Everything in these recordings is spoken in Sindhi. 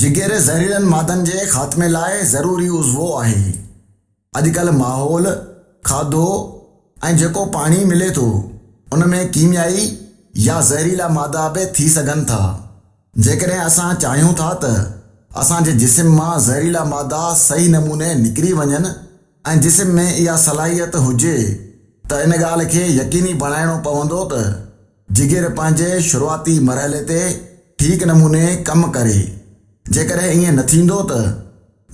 جگر زهريلن مادن جي خاتمي لاء ضروري عضوو آهي. اڄڪلهه ماحول، کاڌو ۽ جيڪو پاڻي ملي ٿو ان ۾ ڪيميائي يا زهريلا مادا به ٿي سگهن ٿا. جيڪڏهن اسان چاهيون ٿا ته اسان جي جسم مان زهريلا مادا صحيح نموني نڪري وڃن ۽ جسم ۾ اها صلاحيت هجي ته ان ڳالهه کي يقيني بڻائڻو پوندو ته، جگر پنهنجي شروعاتي مرحلي تي ٺيڪ نموني ڪم ڪري. جيڪڏهن ائين نه ٿيندو ته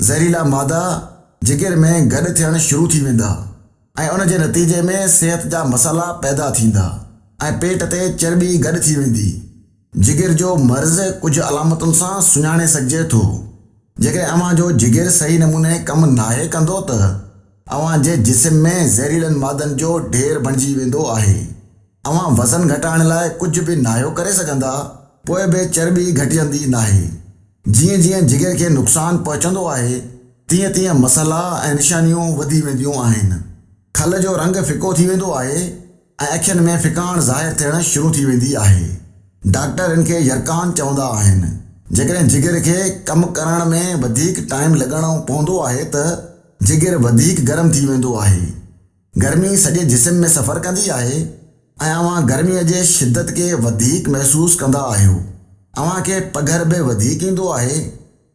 زهريلا مادا جگر ۾ گڏ ٿيڻ شروع ٿي ويندا ۽ ان جي نتيجي ۾ صحت جا مسئلا پيدا ٿيندا ۽ پيٽ تي چرٻي گڏ ٿي ويندي. جگر جو مرض ڪجهه علامتن سان سڃاڻي سگهجي ٿو. جيڪڏهن اوهان جو جگر صحيح نموني ڪم ناهي ڪندو ته اوهان جي جسم ۾ زهريلن مادن جو ڍير بڻجي ويندو آهي. اوهان وزن گهٽائڻ لاء ڪجهه به ناهيو ڪري سگهندا. پوء به چرٻي گهٽجندي ناهي. جيئن جيئن جگر کي نقصان پهچندو آهي، تيئن تيئن مسئلا ۽ نشانيون وڌي وينديون آهن. کل جو رنگ ڦڪو ٿي ويندو آهي ۽ اکين ۾ ڦڪاڻ ظاهر ٿيڻ شروع ٿي ويندي آهي. ڊاڪٽر ان کي يرقان چوندا آهن. جيڪڏهن جگر کي ڪم ڪرڻ ۾ وڌيڪ ٽائيم لڳڻو پوندو آهي ته جگر وڌيڪ گرم ٿي ويندو آهي. گرمي سڄي جسم ۾ سفر ڪندي آهي ۽ اوهان گرمي جي شدت کي وڌيڪ محسوس ڪندا آهيو. اوهان کي پگهر به وڌيڪ ايندو آهي.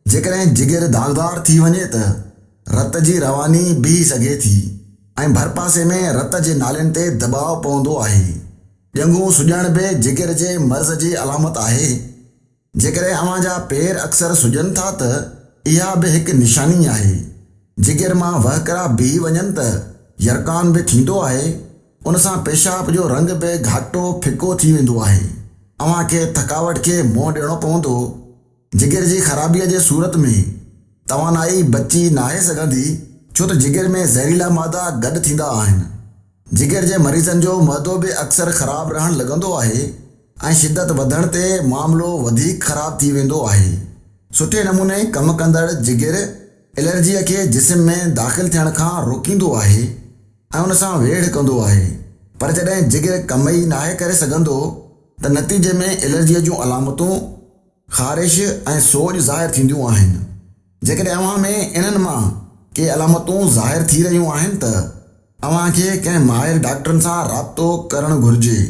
جيڪڏهن جگر داغدار ٿي وڃي ته رت جي رواني بيهي سگهي ٿي ۽ ڀرپاسي ۾ رت جي نالين تي دٻاء پوندو آهي. ڄنگهون سڄڻ به جگر جي مرض جي علامت آهي. جيڪڏهن اوهان جا پير اڪثر سڄن ٿا ته اها به هڪ نشاني آهي. جگر مان وهڪرا بيهي وڃن ته يرقان به ٿيندو آهي، ان سان پيشاب جو رنگ به گهاٽو ڦڪو ٿي ويندو آهي. اوهان کي ٿڪاوٽ کي منهن ڏيڻو پوندو. جگر جي خرابيء جي صورت ۾ توانائي بچي ناهي سگهندي ڇو ته جگر ۾ زهريلا مادا گڏ ٿيندا آهن. جگر جي مريضن جو معدو به اڪثر خراب رهڻ لڳندو آهي. ۽ شدت وڌڻ تي معاملو وڌيڪ خراب ٿي ويندو آهي. سٺي نموني ڪم ڪندڙ جگر الرجيء کي جسم ۾ داخل ٿيڻ کان روڪيندو آهي ۽ ان سان ويڙهه ڪندو آهي پر جڏهن جگر ڪم ئي ناهي ڪري سگهندو ته نتيجي ۾ الرجيء جون علامتون خارش ۽ سوڄ ظاهر ٿينديون آهن. جيڪڏهن اوهان ۾ انهن مان ڪي علامتون ظاهر ٿي رهيون آهن ته اوهان کي ڪنهن ماهر ڊاڪٽرن سان رابطو ڪرڻ گهرجي.